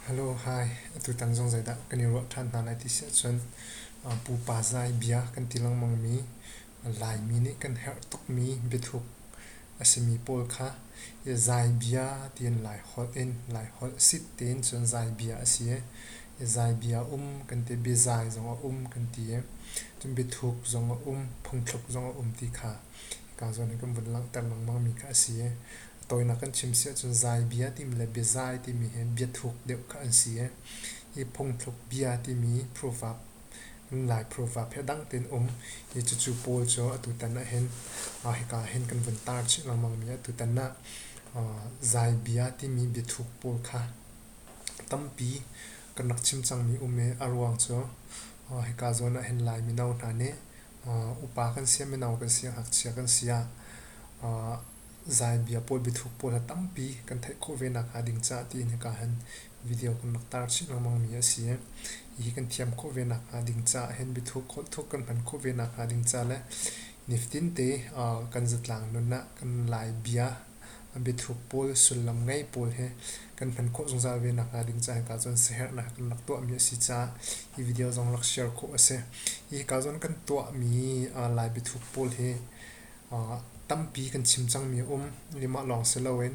Hello, hi. Atutan zong zeidah kan i ruah ṭhan hna lai ti si ahcun pupa zai bia kan ti lengmangmi, Laimi nih kan herh tukmi biathuk a simi pawl kha zai bia tiin Lai holh in Lai holh sit tiin cun zai bia a si i zai bia um kan ti, biazai zong a um kan ti i cun biathuk zong a um, phungthluk zong a um ti kha Pa zawn hi kan vun langhter lengmang mi kha a si i, a tawinak kan chim si ahcun zaibia timi le biazai timi hi biathuk deuh kha an si i, hi phungthluk bia timi proof ah Lai proof ah phe dang tein um hi cucu Paul cu atutan ah hin mah hika ah hin kan vun tar chih lengmang mi a tutan ah uh, zaibia timi biathuk pawl kha tampi kan rak chim cangmi um i a ruang cu uh, hika zawn ah hin Lai mino hna nih upa kan si ah mino kan si ah ngakchia kan si ah zaanbia pawl biathuk pawl ha tampi kan theih khawh ve nak hnga ding caah tiin hika hin video kan rak tar chih lengmang mi a si i hi kan thiam khawh ve nak hnga ding caah hin biathuk holh thuk kan hman khawh ve nak hnga ding caah le nifatin te kan zatlang nun ah kan lai bia biathuk pawl, sullam ngei pawl he kan hman khawh zungzal ve nakhnga ding ca hika cun siaherhnak kan rak tuahmi a si caah hi video zong rak share khawh a si. Hi hika cun kan tuahmi Lai biathuk pawl hi tampi kan chim cangmi a um. Nimah lawng si loin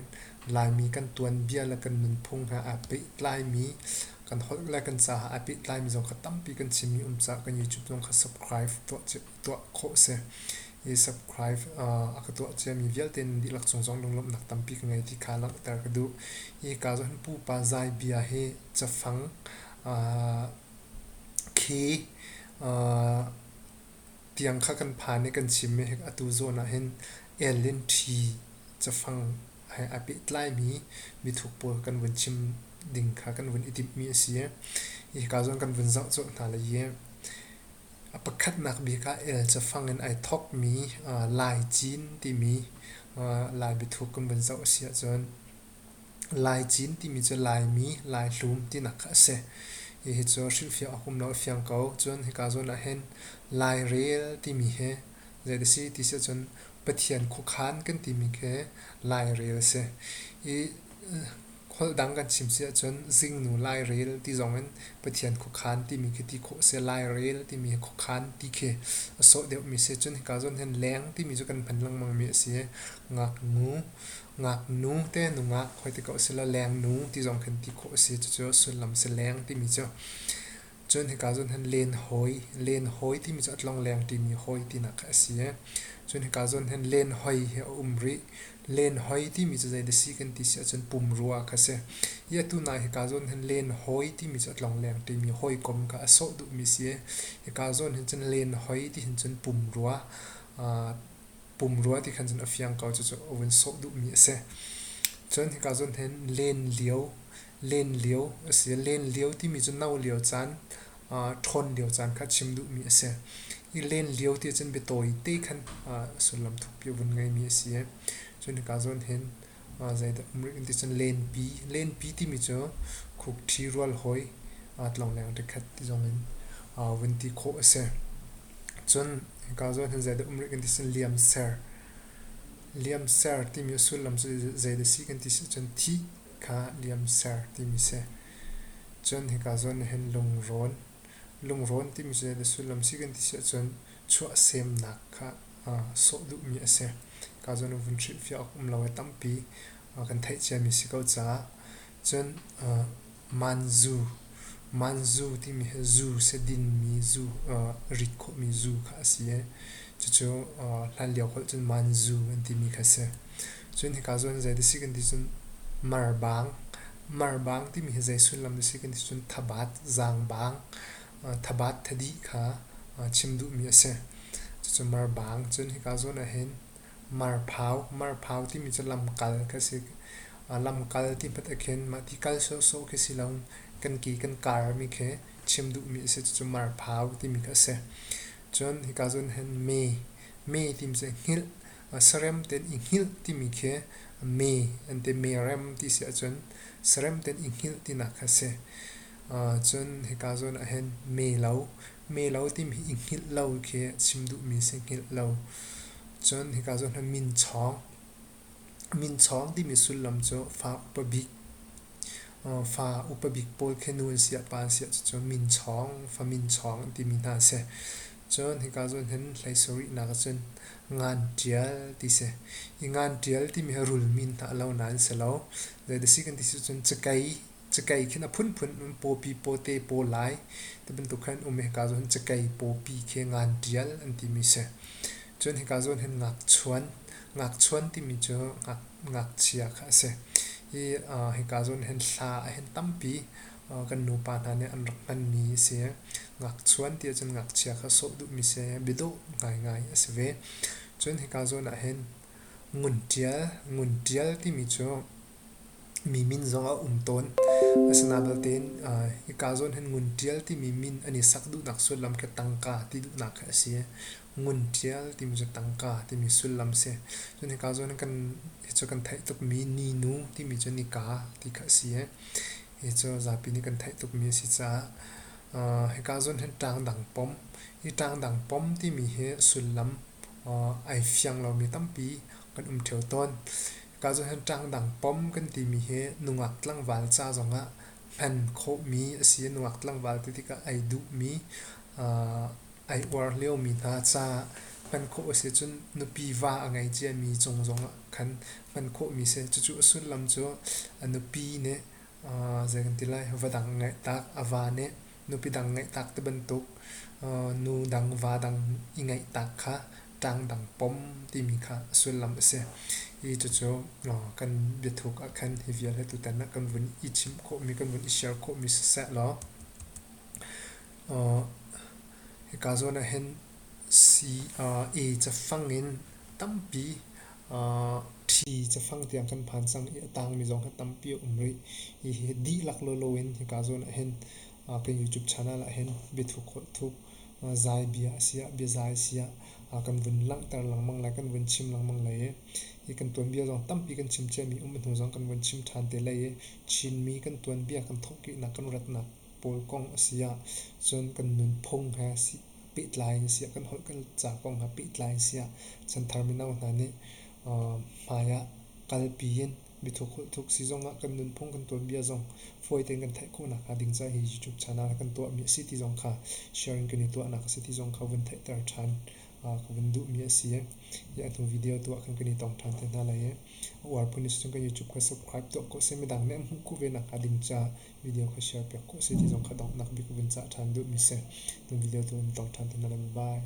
Laimi kan tuanbia le kan nunphung he aa pehtlaimi kan holh le kan caah aa pehtlaimi zong kha tampi kan chimmi um caah kan YouTube zong kha subscribe tuah cia tuah khawh a si. I subscribe a ka tuah ciami vialte dihlak cung zong lunglawmhnak tampi ka ngei ti kha langhter ka duh. Hi ka zohin pupa zai bia hi cafang khi tiang kha kan phan i kan chim i atu zawn ah hin Ellen T cafang he a pehtlaimi mithuk pawl kan vun chim ding kha kan vun i timhmi a si. Hi ka zawn kan vun zoh colh hna le i A pakhatnak bik ah el cafang in ai thawkmi Lai cin timi Lai biathuk kan vun zoh a si ahcun Lai cin timi cu Laimi Lai hlum tinak kha a si. Hihi cu hrilhfiah awk um lo a fiang ko. Cun hika zawn ahhin Lai rel timi hi zeidah a si ti si ahcun Pathian khuakhan kan timi khi Lai rel a si. I Holh dang kan chim si ahcun zingnu lairel ti zongin Pathian khuakhan timi khi ti khawh a si. Lairel timi khuakhan ti khi a sawh deuhmi si ahcun hika zawn hin leng timi cu kan hman lengmangmi a si i ngaknu, ngaknu te nungak hoi ti ko a si le lengnu ti zong khin ti khawh a si. Cucu sullam a si. Leng timi cu Cun hika cun hin len hawi, len hawi timi cu a tlongleng timi hawi tinak kha a si i cun hika cun hin len hoi hi a um rih. Len hoi timi cu zei dah a si kan ti si ahcun pumrua kha a si. I atu nak hika cun hin len hawi timi cu a tlongleng timi hawikom kha a sawh duhmi a si i hika zawn hin cun len hoi ti hin cun pumrua, aa pumrua ti khan cun a fiang ko cucu a vun sawh duhmi a si. Cun hika cun hin len lio len lio asi. Len lio timi cu no lio caan, ṭhawn lio caan kha chim duhmi asi. I len lio ti ahcun biatawi te khan sullam thukpi a vun ngeimi asi i cun hika zawn hin zeidah murik an ti cun lenpi. Lenpi timi cu khukṭhi rualhawi tlongleng rikhat ti zong in vun ti khawh asi. Cun hika zawn hin zeidah murik an ti cun liamser. Liamser timi a sullam cu zeidah a si kan ti si ahcun thih. kha liam ser timi si. Cun hika zawn na hin lungrawn. Lungrawn timi cu zeidah sullam si kan ti si ahcun chuahsemnak kha aa sawh duhmi a si. Hika zawn vun hrilhfiah awk um lo ai tampi kan theih ciami si ko caah. Cun, manzu Manzu timi hi zu sidinmi zu aa rit khawhmi zu kha a si i cucu aa hlanlio holh cun manzu an timi kha a si. Cun hika cu an zei dih a si kan ti cun marbang. Marbang timi hi zei sullam dih a si kan ti cun thabat, zaangbang, thabat thadih kha aa chim duhmi a si. Cucu marbang. Cun hika zawn ahhin Marphau, marphau timi cu lamkal ka si. Lamkal ti hmat ah khin mah ti kal sawhsawh khi si lo. Kan ke kan karmi khi chim duhmi a si. Cucu marphau timi kha a si. Cun hika cun hin mee, mee timi cu hngilh, sarem tein i hngilh timi khi mee an ti. Meerem ti si ahcun sarem tein i hngilh tinak kha a si. Cun hika zawn ah hin meelo, Melo timi i hngilh lo khi chim duhmi si hngilh lo. Cun hika cu na minchawng. Minchawng timi sullam cu fa upa bik, fa upa bik pawl khi nu an si ah pa an si ah cucu minchawng, fa minchawng timi hna a si. Cun hika cu hin hlei sarih nak ahcun ngan ṭial ti si. I ngan ṭial timi hi rul min hna lo nain si lo. Zei da si kan ti si cun cakei Cikei khi na phunphun in pawpi pawte paw lai ti bantuk khan um hika zawn cikei pawpi khi ngan tial an timi si. Cun hika zawn hin ngakchuan, ngakchuan timi cu ngak, ngakchia kha a si. I uh, hika zawn hin hla a hin tampi uh, kan nupa hna nih an rak hmanmi a si. Ngakchuan ti ahcun ngakchia kha sawh duhmi si, biadawh ngaingai a si ve. Cun hika zawn ah hin ngun tial, ngun tial timi cu Mi min zong a um tawn. Asinain belte hika zawn hin ngun ṭial timi min an i sak duhnak sullam khi tangka ti duhnak khi a si. Ngun ṭial timi cu tangka timi sullam a si. Cun hika zawn hin kan hi cu kan theih tukmi ninu timi cu nika ti kha a si i hi cu zapi nih kan theih tukmi a si caah hika zawn hin ṭangdang pom, hi ṭangdang pom timi hi sullam ai fiang lomi tampi kan um ṭheo tawn. Ka zohkhenh ṭangdang pom kan timi hi nungak tlangval ca zongah hman khawhmi a si. Nungak tlangval ti tikah ai duhmi, ai uar liomi hna ca hman khawh a si cun nupi va a ngei ciami cung zongah khan hman khawhmi a si. Cucu a sullam cu a nupi nih zei kan ti lai, va dang a ngeih tak, a va nih Nupi dang ngeihtak ti bantuk nu dang va dang i ngeihtak kha ṭang dang pom timi kha a sullam a si. Hi cucu kan biathuk ah khan hi vialte tutan ah kan vun i chim khawhmi, kan vun i share khawhmi siseh law hika zawn ah hin a cafang in tampi Ṭhi cafang tiang kan phan cang i a tangmi zong hi tampi a um rih. Hihi dihlak lawlaw in hika zawn ahhin kan YouTube channel ahhin biathuk zai bia a siah biazai siah kan vun langhter lengmang le kan vun chim lengmang lai i hi kan tuanbia zong tampi kan chim cia mi um hnu zong kan vun chim ṭhan te lai i Chinmi kan tuanbia kan thawhkihnak kan ratnak pawl kong a si ahcun kan nunphung he pehtlai in siah kan holh kan ca kong he pehtlai in siah chanthar mino hna nih hmaiah kalpi in mithuk holh thuk si zongah kan nunphung kan tuanbia zong fawi tein kan theih khawhnak hnga ding caah hi youtube channel ah kan tuahmi a si ti zong kha sharing kan i tuahnak a si ti zong kha vun theihter ṭhan ka vun duhmi a si hi a hnu video tuah khan kan i tong ṭhan te hna lai i a uar phun si cun kan youtube kha subscribe tuah ko seh midang nih an hmuh khawh ve nakhnga ding caah video kha share piak khawh a si ti zong kha donghnak bik vun cah ṭhan duhmi a si. Na video tu in tong ṭhan te hna lai. Bye.